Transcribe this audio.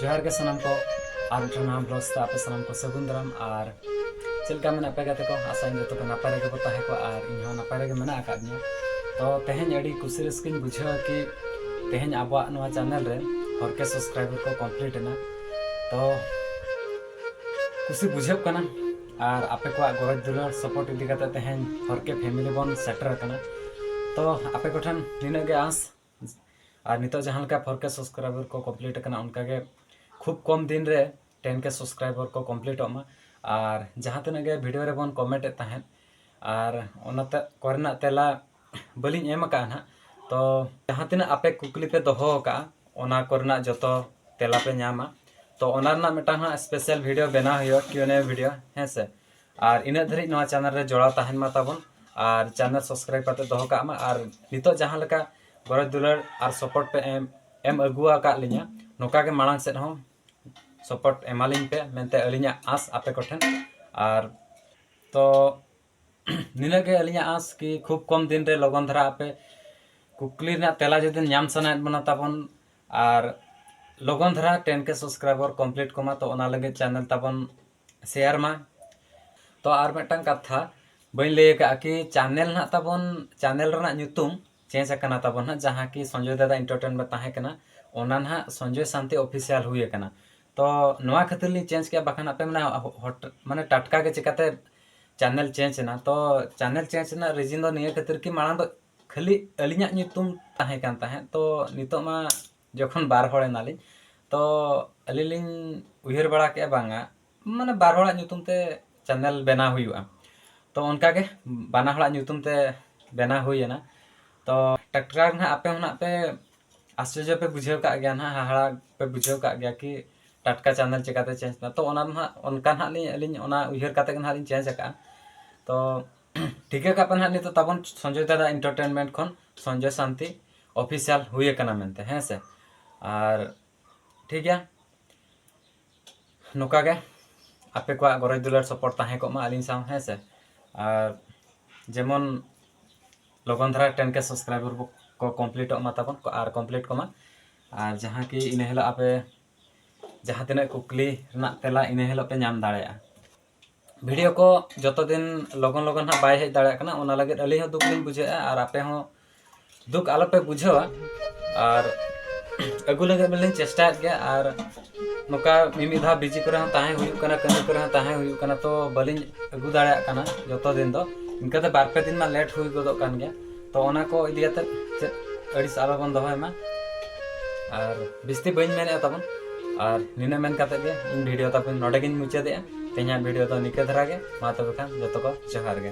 ᱡᱚᱦᱟᱨ ᱜᱮ ᱥᱟᱱᱟᱢ ᱠᱚ ᱟᱨ ᱢᱤᱫᱴᱟᱝ ᱱᱟᱣᱟ ᱵᱞᱚᱜ ᱥᱟᱶᱛᱮ ᱟᱯᱮ ᱥᱟᱱᱟᱢ ᱠᱚ ᱥᱟᱹᱜᱩᱱ ᱫᱟᱨᱟᱢ ᱟᱨ ᱪᱮᱫ ᱞᱮᱠᱟ ᱢᱮᱱᱟᱜ ᱯᱮ ᱜᱟᱛᱮ ᱠᱚ ᱟᱥᱟᱧ ᱡᱚᱛᱚ ᱠᱚ ᱱᱟᱯᱟᱭ ᱨᱮᱜᱮ ᱵᱚ ᱛᱟᱦᱮᱸ ᱠᱚᱜᱼᱟ ᱟᱨ ᱤᱧ ᱦᱚᱸ ᱱᱟᱯᱟᱭ ᱨᱮᱜᱮ ᱢᱮᱱᱟᱜ ᱟᱠᱟᱫ ᱫᱤᱧᱟ ᱛᱚ ᱛᱮᱦᱮᱧ ᱟᱹᱰᱤ ᱠᱩᱥᱤ ᱨᱟᱹᱥᱠᱟᱹᱧ ᱵᱩᱡᱷᱟᱹᱣᱟ ᱠᱤ ᱛᱮᱦᱮᱧ ᱟᱵᱚᱣᱟᱜ ᱱᱚᱣᱟ ᱪᱮᱱᱮᱞ ᱨᱮ ᱦᱚᱲ ᱠᱮ ᱥᱟᱵᱥᱠᱨᱟᱭᱵᱟᱨ ᱠᱚ ᱠᱚᱢᱯᱞᱤᱴ ᱮᱱᱟ ᱛᱚ ᱠᱩᱥᱤ ᱵᱩᱡᱷᱟᱹᱜ ᱠᱟᱱᱟ ᱟᱨ ᱟᱯᱮ ᱠᱚᱣᱟᱜ ᱜᱚᱨᱚᱡᱽ ᱫᱩᱞᱟᱹᱲ ᱥᱚᱯᱚᱨᱴ ᱤᱫᱤ ᱠᱟᱛᱮ ᱛᱮᱦᱮᱧ ᱦᱚᱲ ᱠᱮ ᱯᱷᱮᱢᱤᱞᱤ ᱵᱚᱱ ᱥᱮᱴᱮᱨ ᱟᱠᱟᱱᱟ ᱛᱚ ᱟᱯᱮ ᱠᱚᱴᱷᱮᱱ ᱱᱤᱱᱟᱹᱜ ᱜᱮ ᱟᱸᱥ ᱟᱨ ᱱᱤᱛᱚᱜ ᱡᱟᱦᱟᱸ ᱞᱮᱠᱟ ᱯᱷᱳᱨ ᱠᱮ ᱥᱟᱵᱥᱠᱨᱟᱭᱵᱟᱨ ᱠᱚ ᱠᱚᱢᱯᱞᱤᱴ ᱟᱠᱟᱱᱟ ᱚᱱᱠᱟ ᱜᱮ ᱠᱷᱩᱵ ᱠᱚᱢ ᱫᱤᱱ ᱨᱮ ᱴᱮᱱ ᱠᱮ ᱥᱟᱵᱥᱠᱨᱟᱭᱵᱟᱨ ᱠᱚ ᱠᱚᱢᱯᱞᱤᱴᱚᱜ ᱢᱟ ᱟᱨ ᱡᱟᱦᱟᱸ ᱛᱤᱱᱟᱹᱜ ᱜᱮ ᱵᱷᱤᱰᱤᱭᱳ ᱨᱮᱵᱚᱱ ᱠᱚᱢᱮᱱᱴ ᱮᱫ ᱛᱟᱦᱮᱸᱫ ᱟᱨ ᱚᱱᱟ ᱠᱚᱨᱮᱱᱟᱜ ᱛᱮᱞᱟ ᱵᱟᱹᱞᱤᱧ ᱮᱢ ᱟᱠᱟᱫᱼᱟ ᱱᱟᱦᱟᱜ ᱛᱚ ᱡᱟᱦᱟᱸ ᱛᱤᱱᱟᱹᱜ ᱟᱯᱮ ᱠᱩᱠᱞᱤ ᱯᱮ ᱫᱚᱦᱚ ᱟᱠᱟᱫᱼᱟ ᱚᱱᱟ ᱠᱚᱨᱮᱱᱟᱜ ᱡᱚᱛᱚ ᱛᱮᱞᱟ ᱯᱮ ᱧᱟᱢᱟ ᱛᱚ ᱚᱱᱟ ᱨᱮᱱᱟᱜ ᱢᱤᱫᱴᱟᱝ ᱦᱟᱸᱜ ᱥᱯᱮᱥᱟᱞ ᱵᱷᱤᱰᱤᱭᱳ ᱵᱮᱱᱟᱣ ᱦᱩᱭᱩᱜᱼᱟ ᱠᱤᱭᱩ ᱮᱱ ᱮ ᱵᱷᱤᱰᱤᱭᱳ ᱦᱮᱸ ᱥᱮ ᱟᱨ ᱤᱱᱟᱹᱜ ᱫᱷᱟᱹᱨᱤᱡ ᱱᱚᱣᱟ ᱪᱮᱱᱮᱞ ᱨᱮ ᱡᱚᱲᱟᱣ ᱛᱟᱦᱮᱱ ᱢᱟ ᱛᱟᱵᱚᱱ ᱟᱨ ᱪᱮᱱᱮᱞ ᱥᱟᱵᱥᱠᱨᱟᱭᱤᱵ ᱠᱟᱛᱮ ᱫᱚᱦᱚ ᱠᱟᱜ ᱢᱟ ᱟᱨ ᱱᱤᱛᱚᱜ ᱡᱟᱦᱟᱸ ᱞᱮᱠᱟ ᱜᱚᱨᱚᱡᱽ ᱫᱩᱞᱟᱹᱲ ᱟᱨ ᱥᱚᱯᱚᱨᱴ ᱯᱮ ᱮᱢ ᱮᱢ ᱟᱹᱜᱩ ᱟᱠᱟᱫ ᱞᱤᱧᱟ ᱱᱚᱝᱠᱟ ᱜᱮ ᱢᱟᱲᱟᱝ ᱥᱮᱫ ᱦᱚᱸ ᱥᱚᱯᱚᱨᱴ ᱮᱢᱟᱞᱤᱧ ᱯᱮ ᱢᱮᱱᱛᱮ ᱟᱹᱞᱤᱧᱟᱜ ᱟᱸᱥ ᱟᱯᱮ ᱠᱚᱴᱷᱮᱱ ᱟᱨ ᱛᱚ ᱱᱤᱱᱟᱹᱜ ᱜᱮ ᱟᱹᱞᱤᱧᱟᱜ ᱟᱸᱥ ᱠᱤ ᱠᱷᱩᱵ ᱠᱚᱢ ᱫᱤᱱ ᱨᱮ ᱞᱚᱜᱚᱱ ᱫᱷᱟᱨᱟ ᱟᱯᱮ ᱠᱩᱠᱞᱤ ᱨᱮᱱᱟᱜ ᱛᱮᱞᱟ ᱡᱩᱫᱤ ᱧᱟᱢ ᱥᱟᱱᱟᱭᱮᱫ ᱵᱚᱱᱟ ᱛᱟᱵᱚᱱ ᱟᱨ ᱞᱚᱜᱚᱱ ᱫᱷᱟᱨᱟ ᱴᱮᱱ ᱠᱮ ᱥᱟᱵᱥᱠᱨᱟᱭᱵᱟᱨ ᱠᱚᱢᱯᱞᱤᱴ ᱠᱚᱢᱟ ᱛᱚ ᱚᱱᱟ ᱞᱟᱹᱜᱤᱫ ᱪᱮᱱᱮᱞ ᱛᱟᱵᱚᱱ ᱥᱮᱭᱟᱨ ᱢᱟ ᱛᱚ ᱟᱨ ᱢᱤᱫᱴᱟᱝ ᱠᱟᱛᱷᱟ ᱵᱟᱹᱧ ᱞᱟᱹᱭ ᱟᱠᱟᱫᱼᱟ ᱠᱤ ᱪᱟᱱᱮᱞ ᱱᱟᱦᱟᱜ ᱛᱟᱵᱚᱱ ᱪᱟᱱᱮᱞ ᱨᱮᱱᱟᱜ ᱧᱩᱛᱩᱢ ᱪᱮᱧᱡᱽ ᱟᱠᱟᱱᱟ ᱛᱟᱵᱚᱱ ᱱᱟᱦᱟᱜ ᱡᱟᱦᱟᱸ ᱠᱤ ᱥᱚᱧᱡᱚᱭ ᱫᱟᱫᱟ ᱤᱱᱴᱟᱨᱴᱮᱱᱢᱮᱱᱴ ᱛᱟᱦᱮᱸ ᱠᱟᱱᱟ ᱚᱱᱟ ᱱᱟᱦᱟᱜ ᱥᱚᱧᱡᱚᱭ ᱥᱟᱱᱛᱤ ᱚᱯᱷᱤᱥᱤᱭᱟᱞ ᱦᱩᱭ ᱟᱠᱟᱱᱟ ᱛᱚ ᱱᱚᱣᱟ ᱠᱷᱟᱹᱛᱤᱨ ᱞᱤᱧ ᱪᱮᱧᱡᱽ ᱠᱮᱫᱼᱟ ᱵᱟᱠᱷᱟᱱ ᱟᱯᱮ ᱢᱟᱱᱮ ᱢᱟᱱᱮ ᱴᱟᱴᱠᱟ ᱜᱮ ᱪᱤᱠᱟᱹᱛᱮ ᱪᱟᱱᱮᱞ ᱪᱮᱧᱡᱽ ᱮᱱᱟ ᱛᱚ ᱪᱟᱱᱮᱞ ᱪᱮᱧᱡᱽ ᱨᱮᱱᱟᱜ ᱨᱤᱡᱤᱱ ᱫᱚ ᱱᱤᱭᱟᱹ ᱠᱷᱟᱹᱛᱤᱨ ᱠᱤ ᱢᱟᱲᱟᱝ ᱫᱚ ᱠᱷᱟᱹᱞᱤ ᱟᱹᱞᱤᱧᱟᱜ ᱧᱩᱛᱩᱢ ᱛᱟᱦᱮᱸ ᱠᱟᱱ ᱛᱟᱦᱮᱸᱫ ᱛᱚ ᱱᱤᱛᱚᱜ ᱢᱟ ᱡᱚᱠᱷᱚᱱ ᱵᱟᱨ ᱦᱚᱲ ᱮᱱᱟᱞᱤᱧ ᱛᱚ ᱟᱹᱞᱤᱧ ᱞᱤᱧ ᱩᱭᱦᱟᱹᱨ ᱵᱟᱲᱟ ᱠᱮᱫᱼᱟ ᱵᱟᱝᱟ ᱢᱟᱱᱮ ᱵᱟᱨ ᱦᱚᱲᱟᱜ ᱧᱩᱛᱩᱢ ᱛᱮ ᱪᱮᱱᱮᱞ ᱵᱮᱱᱟᱣ ᱦᱩᱭᱩᱜᱼᱟ ᱛᱚ ᱚᱱᱠᱟ ᱜᱮ ᱵᱟᱱᱟ ᱦᱚᱲᱟᱜ ᱧᱩᱛᱩᱢ ᱛᱮ ᱵᱮᱱᱟᱣ ᱦᱩᱭᱮᱱᱟ ᱛᱚ ᱴᱟᱴᱠᱟ ᱜᱮ ᱱᱟᱦᱟᱜ ᱟᱯᱮ ᱦᱚᱸ ᱱᱟᱦᱟᱜ ᱯᱮ ᱟᱥᱪᱚᱨᱡᱚ ᱯᱮ ᱵᱩᱡᱷᱟᱹᱣ ᱠᱟᱜ ᱜᱮᱭᱟ ᱱᱟᱦᱟᱜ ᱦᱟᱦᱟᱲᱟ ᱯᱮ ᱵᱩᱡᱷᱟᱹᱣ ᱠᱟᱜ ᱜᱮᱭᱟ ᱠᱤ ᱴᱟᱴᱠᱟ ᱪᱮᱱᱮᱞ ᱪᱤᱠᱟᱹᱛᱮ ᱪᱮᱧᱡᱽ ᱮᱱᱟ ᱛᱚ ᱚᱱᱟ ᱫᱚ ᱱᱟᱦᱟᱜ ᱚᱱᱠᱟ ᱱᱟᱦᱟᱜ ᱞᱤᱧ ᱟᱹᱞᱤᱧ ᱚᱱᱟ ᱩᱭᱦᱟᱹᱨ ᱠᱟᱛᱮᱫ ᱜᱮ ᱱᱟᱦᱟᱜ ᱞᱤᱧ ᱪᱮᱧᱡᱽ ᱟᱠᱟᱫᱼᱟ ᱛᱚ ᱴᱷᱤᱠᱟᱹ ᱠᱟᱜ ᱯᱮ ᱱᱟᱦᱟᱜ ᱱᱤᱛᱚᱜ ᱛᱟᱵᱚᱱ ᱥᱚᱧᱡᱚᱭ ᱫᱟᱫᱟ ᱤᱱᱴᱟᱨᱴᱮᱱᱢᱮᱱᱴ ᱠᱷᱚᱱ ᱥᱚᱧᱡᱚᱭ ᱥᱟᱱᱛᱤ ᱚᱯᱷᱤᱥᱤᱭᱟᱞ ᱦᱩᱭ ᱟᱠᱟᱱᱟ ᱢᱮᱱᱛᱮ ᱦᱮᱸ ᱥᱮ ᱟᱨ ᱴᱷᱤᱠ ᱜᱮᱭᱟ ᱱᱚᱝᱠᱟ ᱜᱮ ᱟᱯᱮ ᱠᱚᱣᱟᱜ ᱜᱚᱨᱚᱡᱽ ᱫᱩᱞᱟᱹᱲ ᱥᱚᱯᱚᱨ ᱛᱟᱦᱮᱸ ᱠᱚᱜ ᱢᱟ ᱟᱹᱞᱤᱧ ᱥᱟᱶ ᱦᱮᱸ ᱥᱮ ᱟᱨ ᱡᱮᱢᱚᱱ ᱞᱚᱜᱚᱱ ᱫᱷᱟᱨᱟ ᱴᱮᱱ ᱠᱮ ᱥᱟᱵᱥᱠᱨᱟᱭᱵᱟᱨ ᱠᱚ ᱠᱚᱢᱯᱞᱤᱴᱚᱜ ᱢᱟ ᱛᱟᱵᱚᱱ ᱟᱨ ᱠᱚᱢᱯᱞᱤᱴ ᱠᱚᱢᱟ ᱟᱨ ᱡᱟᱦᱟᱸ ᱠᱤ ᱤᱱᱟᱹ ᱦᱤᱞᱳᱜ ᱟᱯᱮ ᱡᱟᱦᱟᱸ ᱛᱤᱱᱟᱹᱜ ᱠᱩᱠᱞᱤ ᱨᱮᱱᱟᱜ ᱛᱮᱞᱟ ᱤᱱᱟᱹ ᱦᱤᱞᱳᱜ ᱯᱮ ᱧᱟᱢ ᱫᱟᱲᱮᱭᱟᱜᱼᱟ ᱵᱷᱤᱰᱤᱭᱳ ᱠᱚ ᱡᱚᱛᱚ ᱫᱤᱱ ᱞᱚᱜᱚᱱ ᱞᱚᱜᱚᱱ ᱦᱟᱸᱜ ᱵᱟᱭ ᱦᱮᱡ ᱫᱟᱲᱮᱭᱟᱜ ᱠᱟᱱᱟ ᱚᱱᱟ ᱞᱟᱹᱜᱤᱫ ᱟᱹᱞᱤᱧ ᱦᱚᱸ ᱫᱩᱠ ᱞᱤᱧ ᱵᱩᱡᱷᱟᱹᱣᱮᱫᱼᱟ ᱟᱨ ᱟᱯᱮ ᱦᱚᱸ ᱫᱩᱠ ᱟᱞᱚᱯᱮ ᱵᱩᱡᱷᱟᱹᱣᱟ ᱟᱨ ᱟᱹᱜᱩ ᱞᱟᱹᱜᱤᱫ ᱢᱟᱞᱤᱧ ᱪᱮᱥᱴᱟᱭᱮᱫ ᱜᱮᱭᱟ ᱟᱨ ᱱᱚᱝᱠᱟ ᱢᱤᱢᱤᱫ ᱫᱷᱟᱣ ᱵᱤᱡᱤ ᱠᱚᱨᱮ ᱦᱚᱸ ᱛᱟᱦᱮᱸ ᱦᱩᱭᱩᱜ ᱠᱟᱱᱟ ᱠᱟᱹᱢᱤ ᱠᱚᱨᱮ ᱦᱚᱸ ᱛᱟᱦᱮᱸ ᱦᱩᱭᱩᱜ ᱠᱟᱱᱟ ᱛᱚ ᱵᱟᱹᱞᱤᱧ ᱟᱹᱜᱩ ᱫᱟᱲᱮᱭᱟᱜ ᱠᱟᱱᱟ ᱡᱚᱛᱚ ᱫᱤᱱ ᱫᱚ ᱤᱱᱠᱟᱹᱛᱮ ᱵᱟᱨ ᱯᱮ ᱫᱤᱱ ᱢᱟ ᱞᱮᱴ ᱦᱩᱭ ᱜᱚᱫᱚᱜ ᱠᱟᱱ ᱜᱮᱭᱟ ᱛᱚ ᱚᱱᱟ ᱠᱚ ᱤᱫᱤ ᱠᱟᱛᱮ ᱪᱮᱫ ᱟᱹᱲᱤᱥ ᱟᱞᱚ ᱵᱚᱱ ᱫᱚᱦᱚᱭ ᱢᱟ ᱟᱨ ᱵᱤᱥᱛᱤ ᱵᱟᱹᱧ ᱢᱮᱱᱮᱫᱼᱟ ᱛᱟᱵᱚᱱ ᱟᱨ ᱱᱤᱱᱟᱹ ᱢᱮᱱ ᱠᱟᱛᱮ ᱜᱮ ᱤᱧ ᱵᱷᱤᱰᱤᱭᱳ ᱛᱟᱵᱚᱱ ᱱᱚᱰᱮ ᱜᱤᱧ ᱢᱩᱪᱟᱹᱫᱮᱜᱼᱟ ᱛᱮᱦᱮᱧᱟᱜ ᱵᱷᱤᱰᱤᱭᱳ ᱫᱚ ᱱᱤᱠᱟᱹ ᱫᱷᱟᱨᱟ ᱜᱮ ᱢᱟ ᱛᱚᱵᱮ ᱠᱷᱟᱱ ᱡᱚᱛᱚ ᱠᱚ ᱡᱚᱦᱟᱨ ᱜᱮ